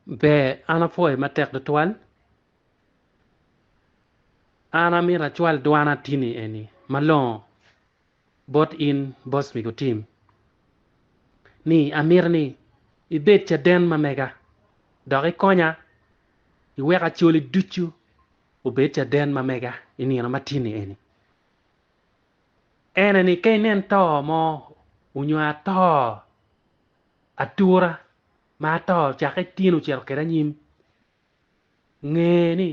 Ber, an apwoye matek tutwal. An amito acwal dwan atini eni malongo bot in Boss Migo Tim, ni amito ni ibed caden ma mega dok ikonya iwek acoli ducu obed caden ma mega i nino matini eni. En eni ka inen to mo onyo ato atura. ma ato cakke tyen ocito kede anyim, nge ni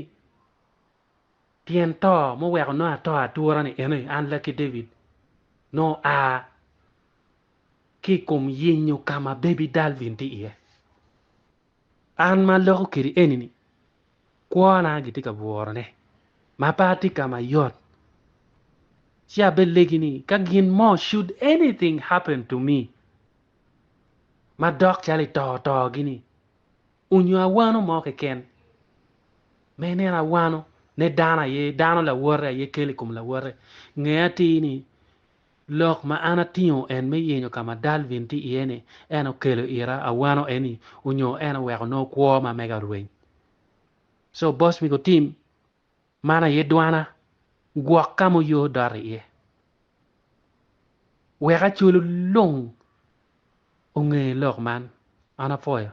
tyen to muweko nongo ato atura-ni eno aye, An lakki David, nongo a ki i kom yenyo ka ma Baby Dalvin tye iye. An ma aloko kidi eni-ni, kwona gitye ka burone ma pe atye ka ma yot. Ci abelegi ni, ka gin mo, should anything happen to me, ma dok calo i to otogi-ni, onyo awano mo keken ma ineno awano ne dano aye, dano lawote aye kelo i kom lawote. Nge atir ni, lok ma an atingo en me yenyo ka ma Dalvin tye iye-ni, en okelo ira awano eni onyo en oweko nongo kwo ma mega orweny. Co, Boss Migo Tim, Man aye dwana, gwok ka ma oyo dot iye. Wek Acolu lung onge lok man, an apwoyo.